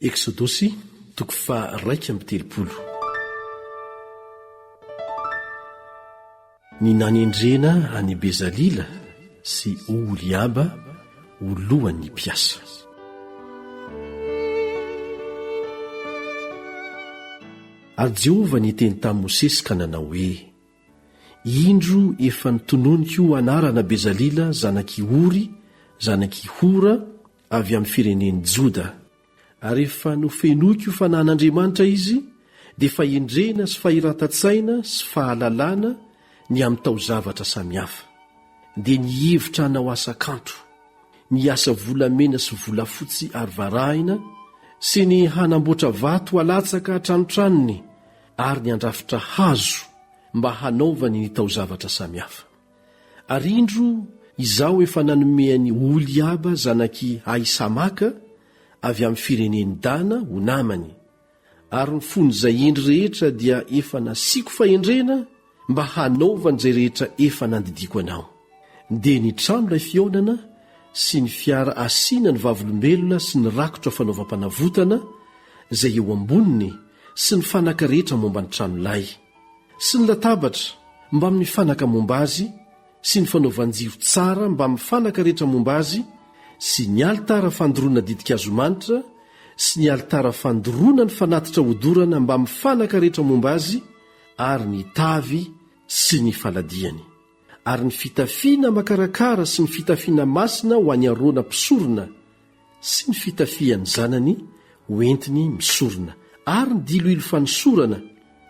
Eksodosy toko faha-iraika amby telopolo. Ny nanendrena an'i Bezalila sy Oholiaba ho lohan'ny mpiasa. Ary Jehovah niteny tamin'i Mosesy ka nanao hoe, Indro efa notononiko ho anarana Bezalila zanak'i Ory, zanak'i Hora, avy amin'ny firenen'i Joda. Ary efa nofenoiko ho fanahin'Andriamanitra izy, dia fahendrena sy fahiratan-tsaina sy fahalalana, ny amin'ny tao-zavatra samihafa, dia ny hihevitra hanao asa kanto, ny hiasa volamena sy volafotsy ary varahina, sy ny hanamboatra vato halatsaka an-tranotranony ary ny handrafitra hazo mba hanaovany ny tao-zavatra samihafa. Ary indro Izaho efa nanome an'i Oholiaba zanak'i Ahisamaka avy amin'ny firenen'i Dana ho namany, ary ny fon'izay hendry rehetra dia efa nasiako fahendrena mba hanaovany izay rehetra efa nandidiako anao. Dia nitrano ilay fihaonana sy ny fiara asiana ny Vavolombelona sy ny rakotra fanaovam-panavotana izay eo amboniny sy ny fanaka rehetra momba ny tranolay, sy ny latabatra mbamin'ny fanaka momba azy, sy ny fanaovan-jiro tsara mbamin'ny fanaka rehetra momba azy sy ny alitara fandoroana ditin-kazo manitra sy ny alitara fandoroana ny fanatitra hodorana mbamin'ny fanaka rehetra momba azy ary ny tavy sy ny faladiany ary ny fitafiana makarakara sy ny fitafiana masina ho an'i Arona mpisorona sy ny fitafian'ny zanany ho entiny misorona, ary ny diloilo fanosorana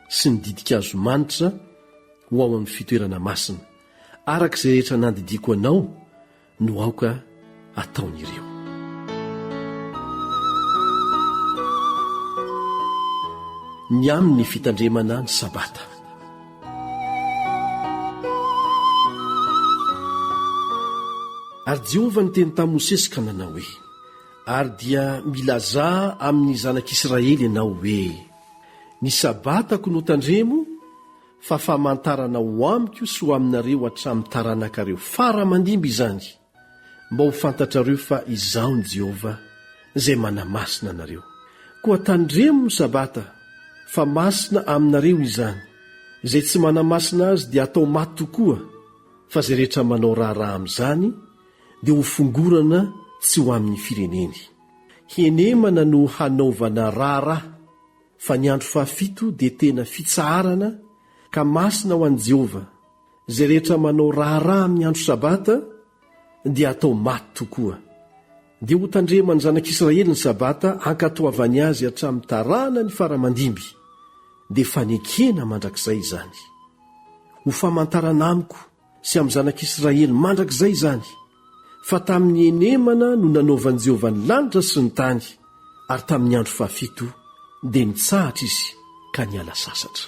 sy ny ditin-kazo manitra ho ao amin'ny fitoerana masina, araka izay rehetra nandidiako anao no aoka ataon'ireo. Ny amin'ny fitandremana ny sabata. Ary Jehovah niteny tamin'i Mosesy ka nanao hoe, Ary dia milazà amin'ny zanak'Israely ianao hoe, Ny Sabatako no tandremo fa famantarana ho amiko sy ho aminareo hatramin'ny taranakareo fara aman-dimby izany, Mba ho fantatrareo fa Izaho ny Jehovah, Izay manamasina anareo. Koa tandremo ny Sabata, fa masina aminareo izany. Izay tsy manamasina azy dia atao maty tokoa, fa izay rehetra manao raharaha amin'izany dia hofongorana tsy ho amin'ny fireneny. Henemana no hanaovana raharaha, fa ny andro fahafito dia tena fitsaharana, ka masina ho an'i Jehovah. Izay rehetra manao raharaha amin'ny andro Sabata dia hatao maty tokoa. Dia hotandreman'ny zanak'Israely ny Sabata hankatoavany azy hatramin'ny taranany fara-mandimby, dia fanekena mandrakizay izany. Ho famantarana amiko sy amin'ny zanak'Israely mandrakizay izany, fa tamin'ny henemana no nanaovan'i Jehovah ny lanitra sy ny tany, ary tamin'ny andro fahafito dia nitsahatra izy ka niala sasatra.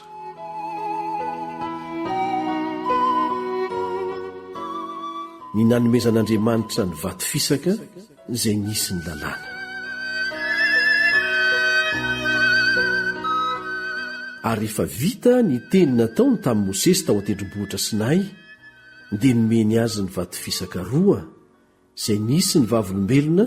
Ny nanomezan'Andriamanitra ny vato fisaka izay nisy ny lalàna. Ary rehefa vita ny teny nataony tamin'i Mosesy tao an-tendrombohitra Sinay, dia nomeny azy ny vato fisaka roa izay nisy ny vavolombelona